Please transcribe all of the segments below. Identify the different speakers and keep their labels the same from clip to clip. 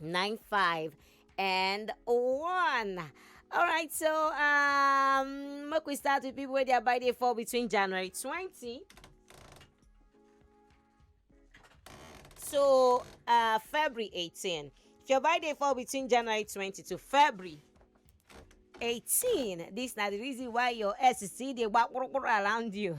Speaker 1: nine five and one. All right, so um, make we start with people where their birthday fall between January twenty. So uh, February eighteen. If your birthday fall between January twenty to February 18 this na the reason why your ex still dey gbakpurukpuru around you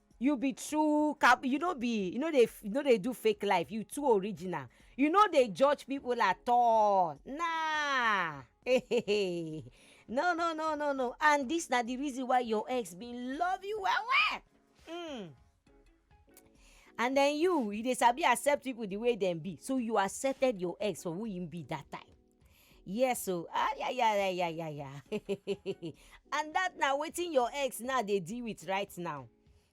Speaker 1: you be true cap you no be you no dey you no dey do fake life you too original you no dey judge people at all nah no no no no no and this na the reason why your ex bin love you well well mm. and then you you dey sabi accept people the way dem be so you accepted your ex for who him be that time yes o ayayayayaya and dat na wetin your ex now dey deal with right now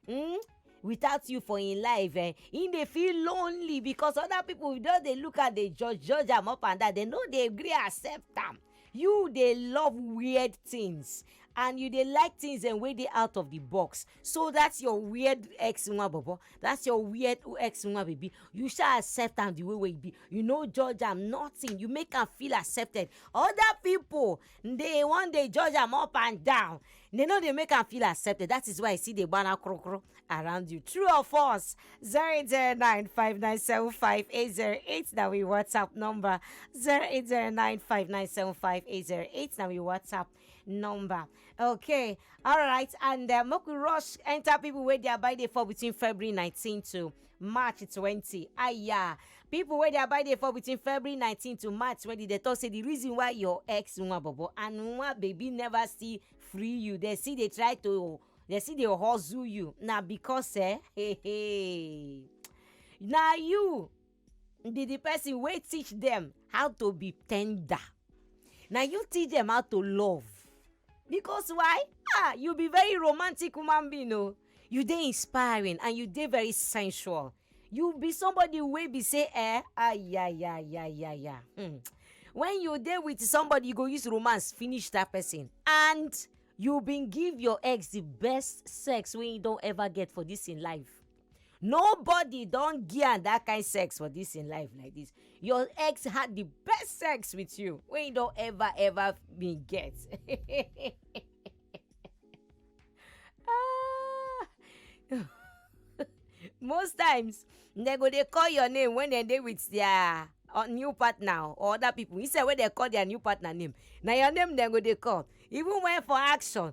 Speaker 1: hmm without you for im life eh im dey feel lonely because other people don dey look am dey judge judge am up and down dem no dey gree accept am you dey love weird things and you dey like things dem wey dey out of the box so that's your weird ex nwa bobo that's your weird ex nwa baby you shall accept am the way wey e be you no judge am nothing you make am feel accepted other people dey wan dey judge am up and down they no dey make am feel accepted that is why i see dey gbana krokro around you true or false zero eight zero nine five nine seven five eight zero eight na we whatsapp number zero eight zero nine five nine seven five eight zero eight na we whatsapp number okay all right and uh, make we rush enter people wey their birthday fall between february 19 to march 20 aya people wey their birthday fall between february 19 to march 20 dey talk say the reason why your ex nwa bobo and nwa baby never still free you dey still dey try to dey still dey hustle you na because eh hey, hey. na you be the person wey teach them how to be tender na you teach them how to love because why ah you be very romantic human being o you dey inspiring and you dey very sensual you be somebody wey be say eh ayayayayaya hmm. when you dey with somebody you go use romance finish that person and you bin give your ex the best sex wey you don ever get for this in life nobody don give am that kind sex for this in life like this your ex had the best sex with you wey you don ever ever been get ah. most times dem go dey call your name when dem dey with their uh, new partner or other people instead wey dem call their new partner name na your name dem go dey call even when for action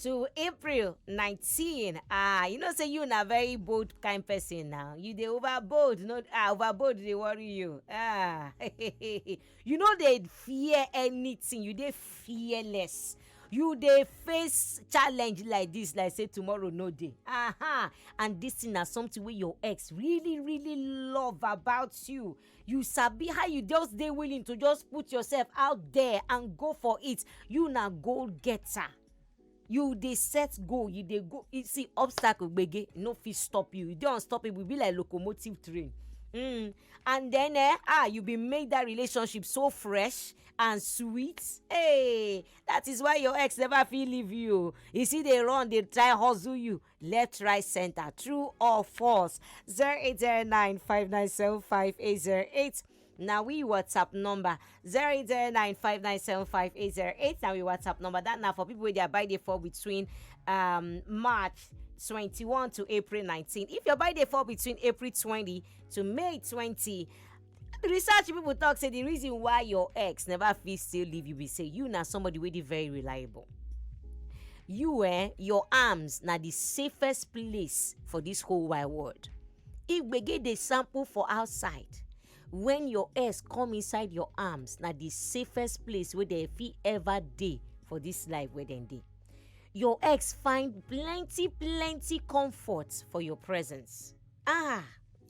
Speaker 1: to april 19 ah you know say you na very bold kind person now you dey over bold no ah over bold dey worry you ah you no dey fear anything you dey fearless you dey face challenge like this like say tomorrow no dey aha and this thing na something wey your ex really really love about you you sabi how you just dey willing to just put yourself out there and go for it you na goal getter you dey set goal you dey go you see obstacle gbege e no fit stop you you dey unstoppable you be like locomotive train mm. and then eh, ah you be make that relationship so fresh and sweet hey that is why your ex never fit leave you you see dey run dey try hustle you left right center true or false 0809-597-5808 na we whatsapp number 0809-597-5808 na we whatsapp number that na for people wey their birthday fall between um, march 21 to april 19 if your birthday fall between april 20 to may 20 research people talk say the reason why your ex never fit still leave you be say you na somebody wey dey very reliable you eh your arms na the safest place for this whole wide world if gbege dey sample for outside when your ex come inside your arms na the safest place wey dem fit ever dey for this life wey dem dey your ex find plenty plenty comfort for your presence ah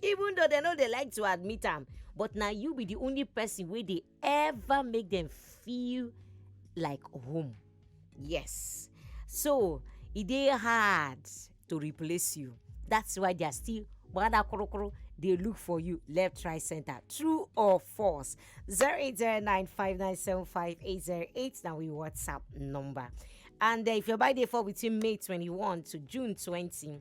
Speaker 1: even though dem no dey like to admit am but na you be the only person wey dey ever make dem feel like home yes so e dey hard to replace you that's why they are still gbada korokoro dey look for you left right center true or false zero eight zero nine five nine seven five eight zero eight na we whatsapp number and uh, if your birthday fall between may twenty one to june twenty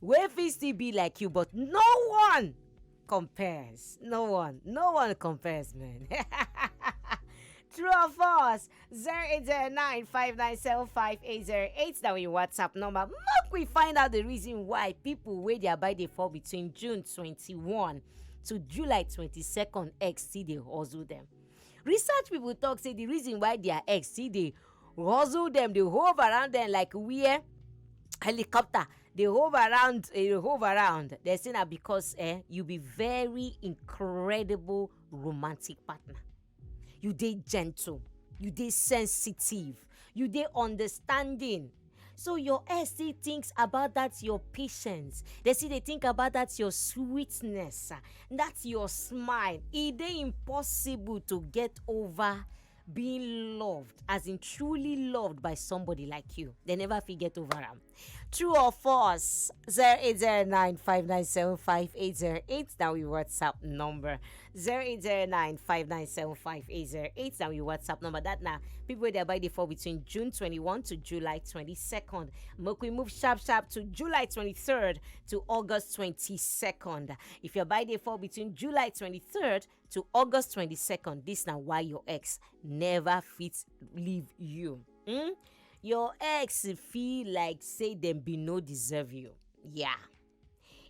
Speaker 1: wey fit still be like you but no one compares no one no one compares man True or false? 0809-597-5808. That your WhatsApp number. Make we find out the reason why people where they are by the fall between June 21 to July 22nd ex see they hustle them. Research people talk say the reason why their ex see they Guzzle them, they hove around them like where helicopter dey hove around eh, dey hove around they say na because eh, you be very incredible romantic partner you dey gentle you dey sensitive you dey understanding so your ex still thinks about that your patience they still dey think about that your sweetness ah, that your smile e dey impossible to get over being loved as in truly loved by somebody like you they never fit get over am true or false 0809-597-5808 na we whatsapp number 0809-597-5808 na we whatsapp number that na people wey dey buy dey fall between june 21 to july 22nd make we move sharp sharp to july 23rd to august 22nd if your buy dey fall between july 23rd to august 22nd dis na why your ex never fit leave you hmm? your ex feel like say dem bin no deserve you yeah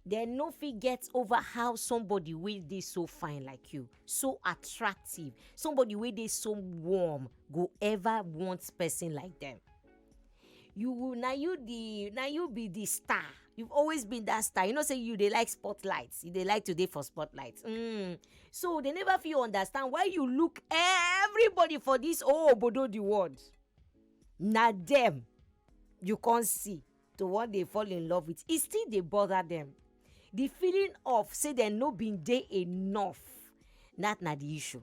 Speaker 1: dem no fit get over how somebody wey dey so fine like you so attractive somebody wey dey so warm go ever want person like dem you will na you the na you be the star you've always been that star you know say you dey like spotlight you dey like to dey for spotlight mm. so they never fit understand why you look everybody for this oh obodo the world na them you come see to wan dey fall in love with e still dey bother them the feeling of say dem no bin dey enough that na the issue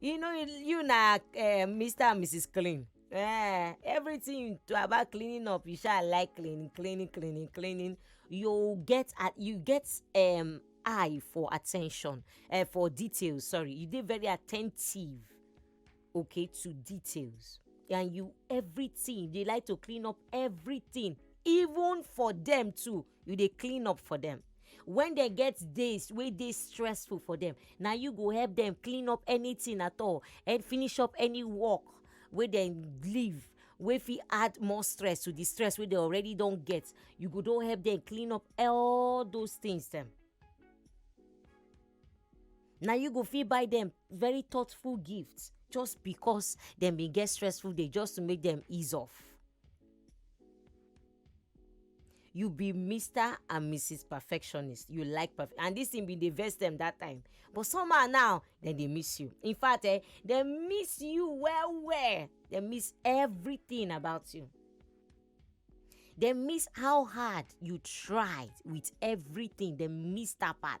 Speaker 1: you know you na uh, eh, mr and mrs clean uh, everything to about cleaning up you shall like cleaning cleaning cleaning cleaning you get at you get um eye for attention uh, for details sorry you did very attentive okay to details and you everything they like to clean up everything even for them too you dey clean up for them when they get days wey dey stressful for them na you go help them clean up anything at all and finish up any work wey dem leave wey fit add more stress to the stress wey they already don get you go don help them clean up all those things dem na you go fit buy them very thoughtful gift just because dem bin get stressful day just to make them ease off. you be mr and mrs perfectionist you like perf and this thing bin dey vex dem that time but somehow now dem dey miss you in fact eh dem miss you well well dem miss everything about you dem miss how hard you tried with everything dem miss that part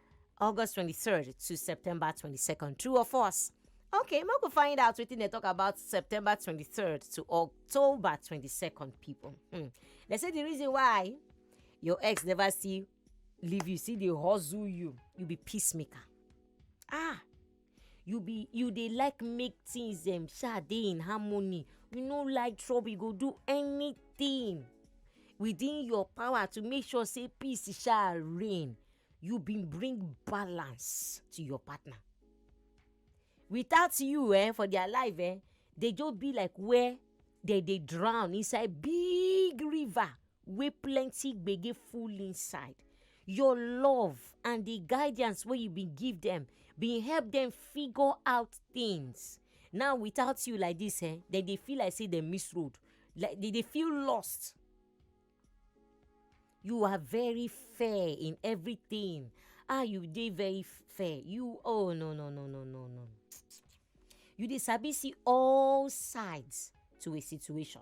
Speaker 1: August 23rd to September 22nd. True or false? Okay, make we find out wetin dey talk about September 23rd to October 22nd, people. Hmm. They say the reason why your ex never see leave you, see dey hustle you, you be peacemaker. Ah, you be you dey like make things um sha dey in harmony you no like trouble you go do anything within your power to make sure say peace sha reign you bin bring balance to your partner without you eh, for their life eh, they just be like where they dey drown inside big river wey plenty gbege full inside. Your love and di guidance wey you bin give dem bin help dem figure out tins. Now without you like dis ehn, dem dey feel like sey dem miss road, like dem dey feel lost. You are very fair in everytin, ah you dey very fair, you oh no no no no no no, you dey sabi see all sides to a situation.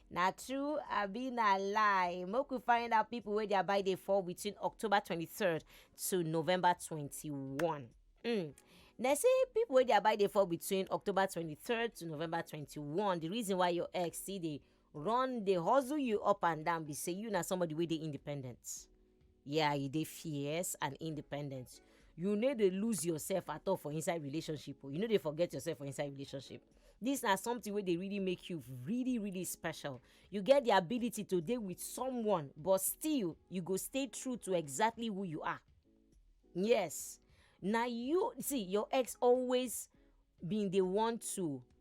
Speaker 1: Na true abi na lie? Make we find out people wey their bye dey fall between October 23rd to November 21. Mm. They say people wey their bye dey fall between October 23rd to November 21. The reason why your ex see dey run dey hustle you up and down be say you na somebody wey dey independent. yeah you dey fierce and independent you no dey lose yourself at all for inside relationship o you no dey forget yourself for inside relationship this na something wey dey really make you really really special you get the ability to dey with someone but still you go stay true to exactly who you are yes na you see your ex always been dey want to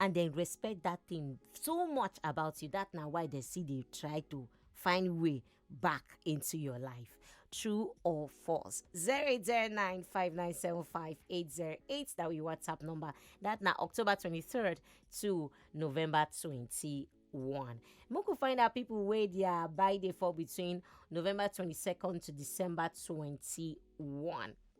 Speaker 1: and dem respect that thing so much about you that na why dem still dey try to find way back into your life true or false 08095975808 that we whatsapp number that na october 23rd to november 21 make we find out people wey their buy dey fall between november 22nd to december 21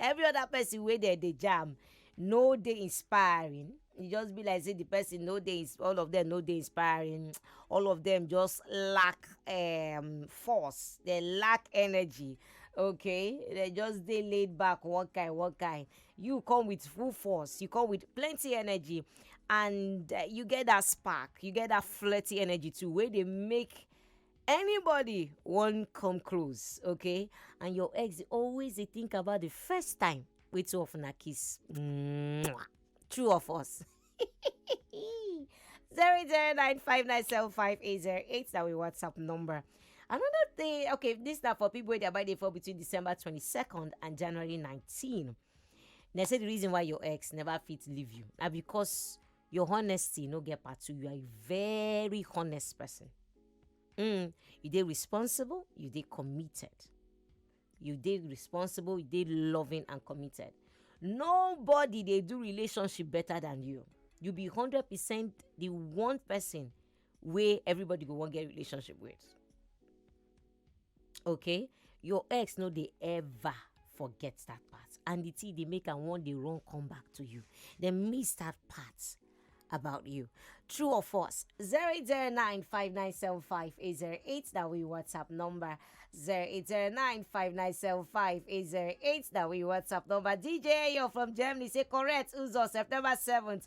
Speaker 1: every other person wey dem dey jam no dey inspiring e just be like say the person no dey ins- all of them no dey inspiring all of them just lack um, force they lack energy okay they just dey laid back one kind one kind you come with full force you come with plenty energy and uh, you get that spark you get that flirty energy too wey dey make anybody wan come close okay and your ex dey always dey think about the first time wey two of una kiss Mwah. true of us zero zero nine five nine seven five eight zero eight na we whatsapp number another thing okay this na for people wey their birthday fall between december twenty-second and january nineteen na say the reason why your ex never fit leave you na because your honesty no get part two you are a very honest person mm, you dey responsible you dey committed you dey responsible you dey loving and committed nobody dey do relationship better than you you be hundred percent the one person wey everybody go wan get relationship with okay your ex no dey ever forget that part and the thing dey make am wan dey run come back to you dem miss that part about you true or false 08095975808 that we whatsapp number 08095975808 that we whatsapp number dj you're from germany say correct uzo september 7th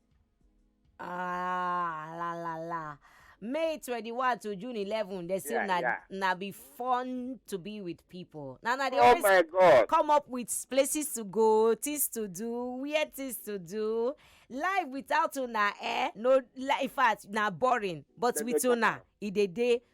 Speaker 1: Ah, la la la. May 21 to June 11, they say Yeah, na, yeah. na be fun to be with people. Now, now they Oh always my God. come up with places to go, things to do, weird things to do. Life without una, eh? No, li- in fact, na boring. But Dem with dey talk una, am. it dey dey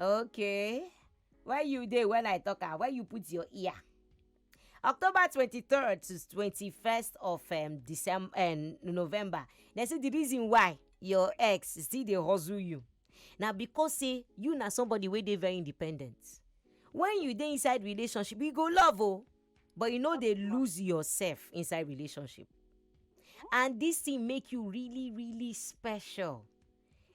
Speaker 1: Okay. Where you dey when I talk am? Where you put your ear? October 23rd to 21st of um, December, um, November. They say the reason why your ex still dey hustle you. Now because say you na somebody wey dey very independent. When you dey inside relationship, you go love oh, but you no dey lose yourself inside relationship. And this thing make you really really special.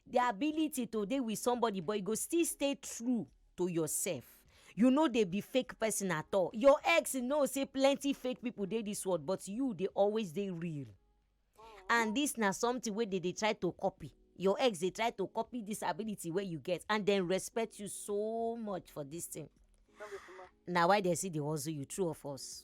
Speaker 1: The ability to dey with somebody but you go still stay true to yourself. You no dey be fake person at all. Your ex know say plenty fake people dey this world but you dey always dey real. And this na something wey dey dey try to copy. Your ex dey try to copy this ability wey you get and dem respect you so much for this thing. Na why dem still dey hustle you, true or false?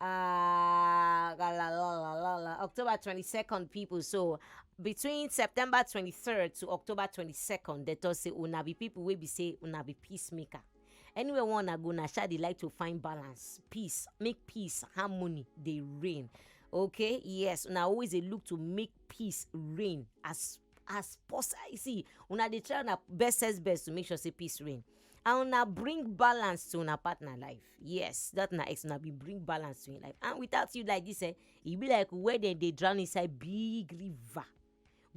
Speaker 1: Ah, la, la, la, la, la, la. October 22nd, people. So, between September 23rd to October 22nd, they talk say, una be people wey be say, una be peacemaker. Anywhere one I go, na sha dey like to find balance, peace, make peace, harmony, dey reign. Okay, yes, una always dey look to make peace reign as as possible. See, una dey try una best best to make sure say peace reign. and una bring balance to una partner life yes that na ex una be bring balance to im life and without you like this eh e be like where dem dey drown inside big river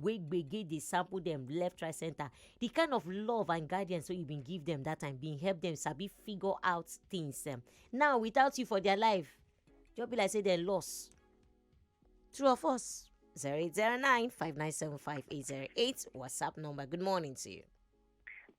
Speaker 1: wey gbege dey sample dem left right center the kind of love and guidance wey you bin give dem that time bin help dem sabi figure out things um, now without you for their life just be like say dem lost true of us 0809 597 5808 whatsapp number good morning to you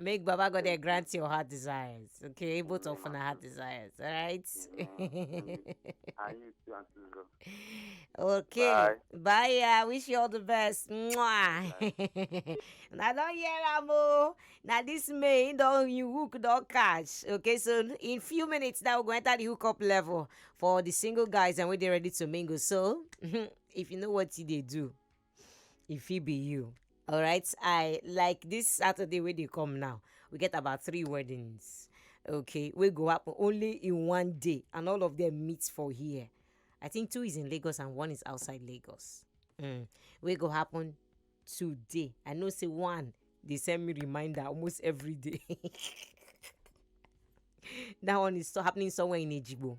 Speaker 1: Make Baba God dey grant your heart desires. Okay, both of una heart desires. All right. And you too, Auntie Lulu. okay. Bye. Bye. yeah. Wish you all the best. Mwah. na don hear am o. Na this May him don you hook don catch. Okay, so in few minutes now we go enter the hookup level for the single guys and we dey ready to mingle. So if you know what you dey do, e fit be you alright i like this saturday wey dey come now we get about three weddings okay wey go happen only in one day and all of them meet for here i think two is in lagos and one is outside lagos mm. wey go happen today i know say one dey send me reminder almost every day that one is so happening somewhere in ejigbo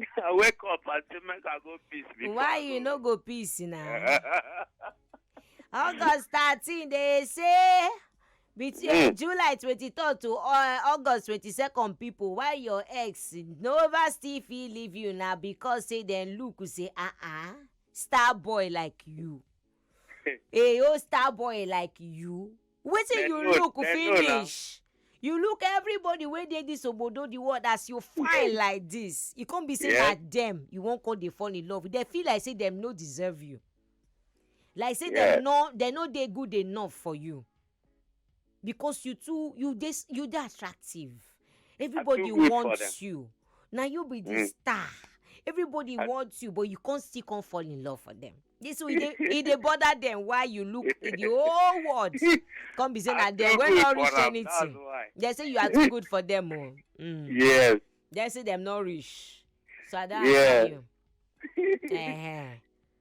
Speaker 1: I wake up and say make I go peace before why I you go. no go peace na august thirteen dey say between Mm. july twenty-third to uh, august twenty-second people why your ex nova still fit leave you na because say dem look say ah ah star boy like you a old star boy like you wetin Dem you know- look dem know now. finish you look everybody wey dey dis obodo the world as you fine like dis you come be say na Yes. dem you wan come dey fall in love with dem feel like say dem no deserve you like say Yes. dem no dem no dey good enough for you because you too you dey s- you dey attractive everybody good for them. wants you na you be the Mm. star everybody I- wants you but you come still come fall in love for them this so e dey e dey bother them why you look the whole world come be say na I'm there too wey good no for reach am, anything That's why. they say you are too good for them o oh. mm. Yes. they say them no reach so i don Yeah. answer you. Eh-heh.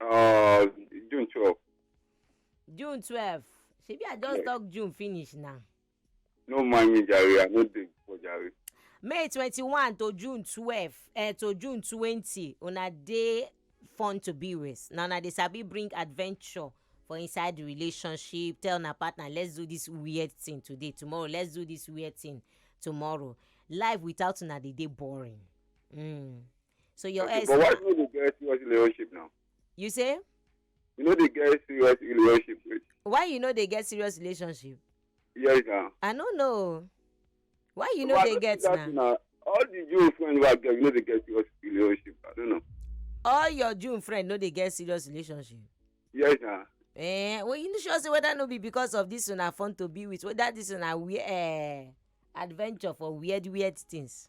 Speaker 1: Uh, June 12. june twelve shebi i just Yes. talk june finish now No mind me, Jare. I no dey for Jare. may twenty-one to june twelve eh, to june twenty una dey fun to be with na una dey sabi bring adventure for inside the relationship tell una partner let's do this weird thing today tomorrow let's do this weird thing tomorrow life without una dey dey boring. Mm. so your ex but why you no dey get serious relationship now. you say. you no dey get serious relationship with. why you no dey get serious relationship. yes na. i no know why you no dey get na. all the jew friends wey i get you no dey get serious relationship i don't know. all your jew friends no dey get serious relationship. yes na. Eh, well, you sure say whether no be because of this una fun to be with whether this una weird uh, eh, adventure for weird weird things.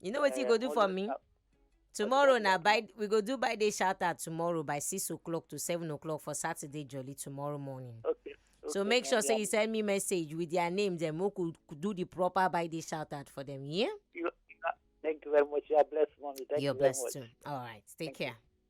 Speaker 1: you know wetin you Eh, go do for always me up. tomorrow you na go by we go do by day shout out tomorrow by six o'clock to seven o'clock for saturday jolly tomorrow morning Okay. so okay, make my sure say dear. you send me message with their name then we could could do the proper by day shout out for them yeah You- you are- Thank you very much. You are blessed, mommy. Thank you're you very blessed much. too all right take Thank you. care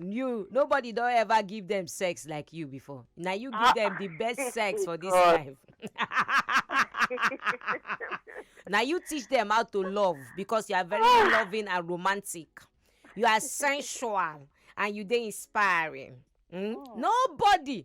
Speaker 1: you nobody don ever give them sex like you before na you give them the best sex for this God. life na you teach them how to love because you are very loving and romantic you are sensual and you dey inspiring mm? nobody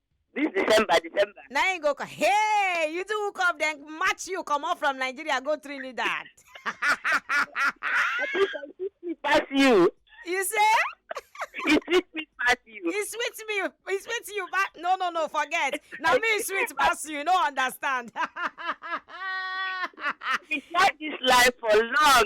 Speaker 1: This December, December. na him go come hey you too hook up then match you comot from nigeria go trinidad I think I sweet me pass you. you say He sweet me pass you. e sweet me e sweet you but no no no forget na me e sweet pass you you no understand We share this life for long.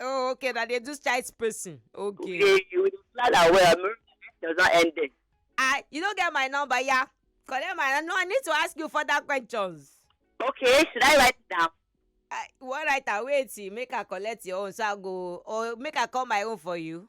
Speaker 1: oh okay na dey do child spacing okay Yeah, you will plan am well. Make it does not end there. ah you no get my number ya collect my no i need to ask you further questions Okay, should I write it down? ah you wan write am wait till make i collect your own so i go or make i call my own for you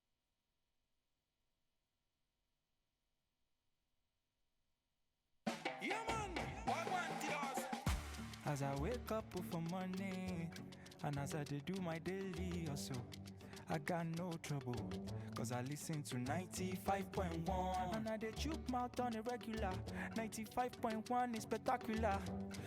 Speaker 1: Yeah, man. What want it us? As I wake up oh, for morning, and as I dey do my daily also, I got no trouble. Cause I listen to 95.1, and I dey chook mouth on a regular. 95.1 is spectacular.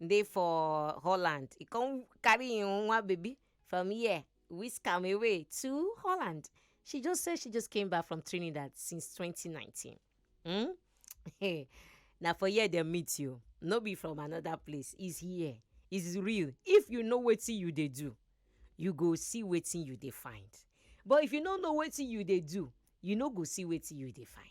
Speaker 1: im dey for holland e come carry im one baby from here whisk am away to holland she just say she just came back from trinidad since 2019 hmm? hey, na for here dem meet you no be from another place is here is real if you know wetin you dey do you go see wetin you dey find but if you no know wetin you dey do you no go see wetin you dey find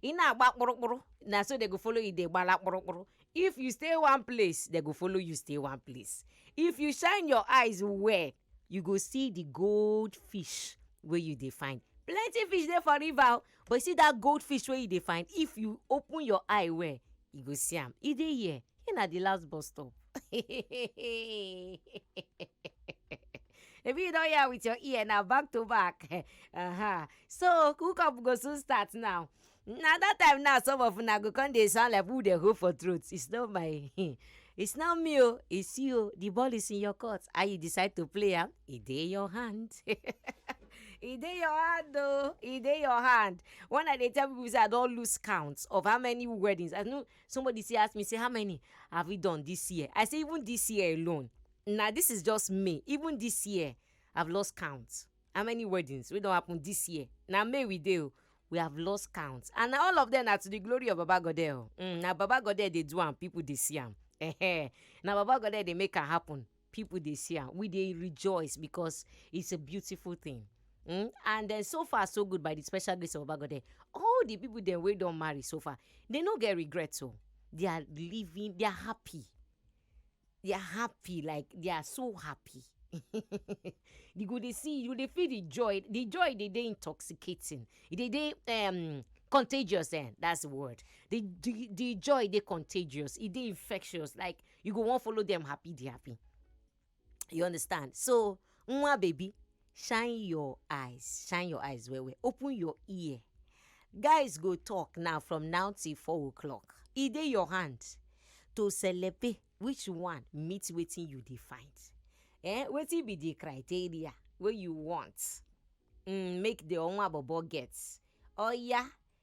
Speaker 1: ị na-agba kpụrụkpụrụ na so they go follow you dey gbala kpụrụkpụrụ if you stay one place they go follow you stay one place if you shine your eyes well you go see the gold fish wey you dey find plenty fish dey for river o but you see that gold fish wey you dey find if you open your eye well you go see am e dey here here na the last bus stop If you don't hear with your ear now, back to back. uh-huh. So cook up go soon start now. Now that time now, some of una go come dey sound like who dey hold for throat. It's not my, it's not me. oh, It's you. The ball is in your court. How you decide to play am? It dey your hand. e dey your hand o e dey your hand when i dey tell people say i don lose count of how many weddings i know somebody still ask me say how many have we done this year i say even this year alone na this is just may even this year i've lost count how many weddings wey don happen this year na may we dey o we have lost count and na all of them na to the glory of baba godeh o mm, na baba godeh dey do am people dey see am Ehe. na baba godeh dey make am happen people dey see am we dey rejoice because it's a beautiful thing mm? and then so far so good by the special grace of baba godeh all the people dem wey don marry so far they no get regret o they are living they are happy they are happy like they are so happy you go dey see you dey feel the joy the joy dey dey intoxicating e dey dey um, contagious eh that's the word the the, the joy dey contagious e dey infectious like you go wan follow them happy dey happy you understand so nwa baby shine your eyes shine your eyes well well open your ear guys go talk now from now till four o'clock e dey your hand to celebrate which one meet wetin you dey find eh wetin be the criteria wey you want mm, make the onwa bobo get oya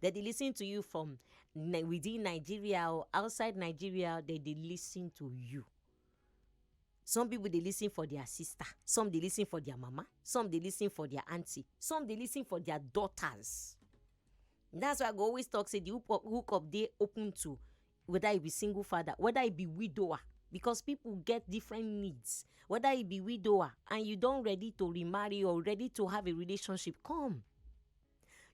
Speaker 1: They dey listen to you from Ni- within Nigeria or outside Nigeria. They dey listen to you. Some people dey listen for their sister. Some dey listen for their mama. Some dey listen for their auntie. Some dey listen for their daughters. That's why I go always talk say the hook up, hook up dey open to whether e be single father, whether e be widower, because people get different needs. Whether e be widower and you don ready to remarry or ready to have a relationship, come.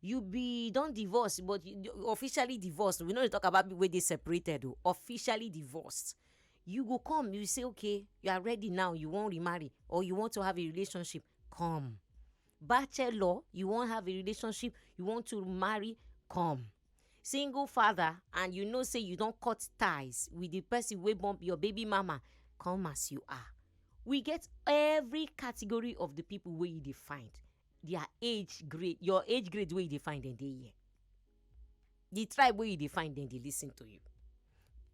Speaker 1: you be don divorce but you you officially divorced we no dey talk about people wey dey separated o officially divorced you go come you say okay you are ready now you wan remarry or you want to have a relationship come bachelor you wan have a relationship you want to marry come single father and you know say you don cut ties with the person wey born your baby mama come as you are we get every category of the people wey you dey find their age grade your age grade wey you dey find dem dey here the tribe wey you dey find dem dey lis ten to you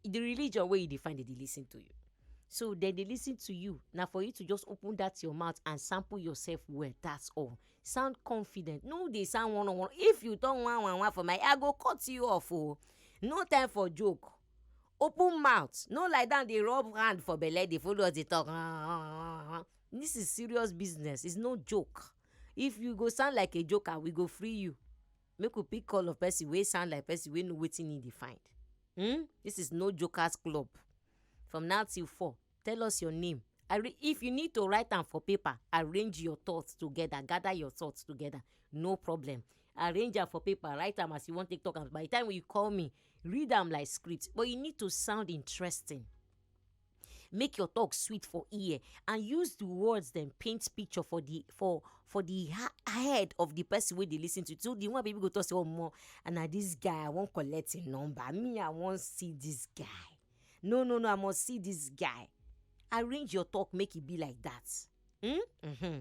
Speaker 1: the religion wey you dey find dem dey lis ten to you so dem dey lis ten to you na for you to just open that your mouth and sample yourself well that's all sound confident no dey sound one on one if you talk one one one for my i go cut you off o oh. no time for joke open mouth no lie down dey rub hand for belle dey follow us dey talk This is serious business, it's no joke. If you go sound like a joker, we go free you. Make we pick call of person wey sound like person wey know wetin he dey find. Hmm? This is no jokers club. From now till four, tell us your name. Arra- If you need to write am for paper, arrange your thoughts together, gather your thoughts together, no problem. Arrange am for paper, write am as you wan take talk am. By the time you call me, read am like script, but you need to sound interesting. make your talk sweet for ear and use the words dem paint picture for the for for the ha- head of the person wey dey lis ten to you so the one people go talk say omo and na this guy i wan collect him number me i wan see this guy no no no i must see this guy arrange your talk make e be like that. Mm-hmm.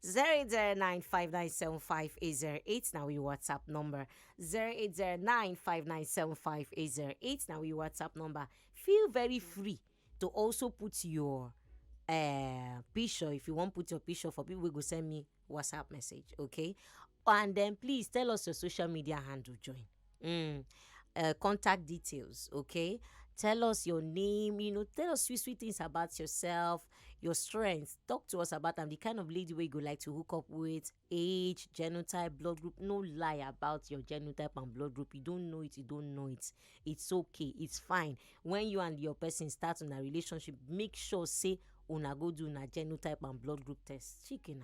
Speaker 1: 08095975808 now we WhatsApp number 08095975808 now we WhatsApp number feel very free to also put your uh, picture if you want put your picture for people we go send me WhatsApp message okay and then please tell us your social media handle join mm, uh, contact details okay tell us your name you know tell us sweet sweet things about yourself your strengths talk to us about them the kind of lady we go like to hook up with age genotype blood group no lie about your genotype and blood group you don't know it you don't know it it's okay it's fine when you and your person start on a relationship make sure say una go do na genotype and blood group test chicken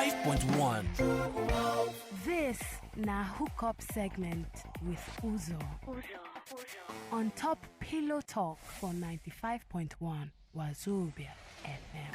Speaker 1: 105.1. This na hookup segment with Uzo. On top Pillow Talk for 95.1 Wazobia FM.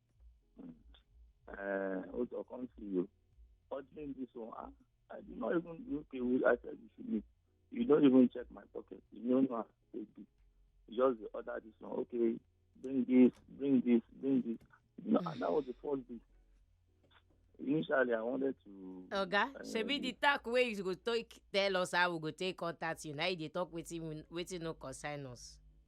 Speaker 1: Uh, what I can't see you. Ordering this one, ah, I, I did not even look at who I said you should meet. You don't even check my pocket. You don't know how to take this. You just the order this one. Okay, bring this, bring this, bring this. No, and that was the first day. Initially, I wanted to. Oga, uh, shebi the talk wey you go take tell us how we go take contact you. Now you dey talk wetin we- wetin no concern us.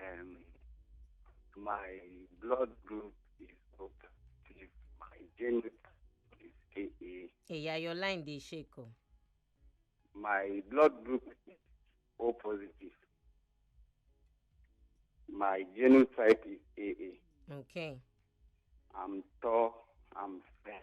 Speaker 1: Um, my blood group is O positive. My genotype is AA. eya your line dey shake o My blood group is O positive. My genotype is AA. okay I'm tall. I'm fair.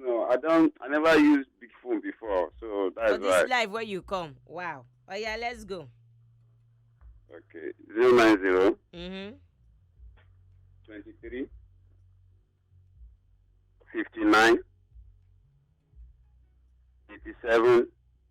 Speaker 1: No, I don't. I never used big phone before, so that's for this why. life wey you come wow oya let's go Okay, zero nine zero mm-hmm. twenty three fifty nine eighty seven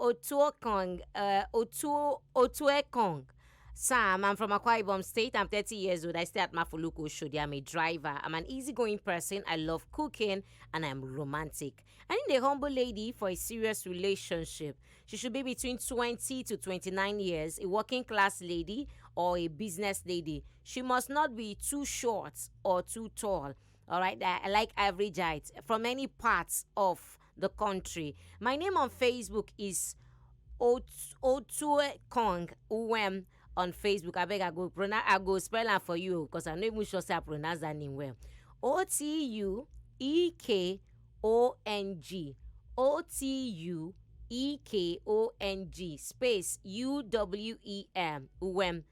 Speaker 1: Otuokong, uh, Otu, Otuekong. Sam, I'm from Akwa Ibom State. I'm 30 years old. I stay at Mafuluku Oshodi. I'm a driver. I'm an easygoing person. I love cooking and I'm romantic. I need a humble lady for a serious relationship. She should be between 20 to 29 years, a working class lady or a business lady. She must not be too short or too tall. All right, I I like average height from any parts of the country. My name on Facebook is Ot- Otue Kong Uwem on Facebook. I beg I go pronounce I go spell am for you because I'm not even sure say I pronounce that name well. O T U E K O N G. O T U E K O N G space U W E M Uwem.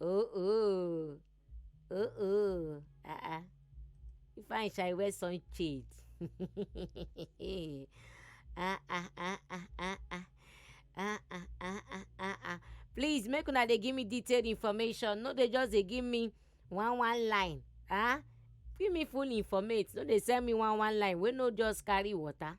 Speaker 1: Oh oh, oh oh, ah ah. If I shall wear sun shade. ah ah ah ah ah ah. Ah, ah, ah, ah, ah, ah. Please make una dey give me detailed information. No, they just dey give me one one line. Ah, give me full informate. No, they send me one one line. We no just carry water.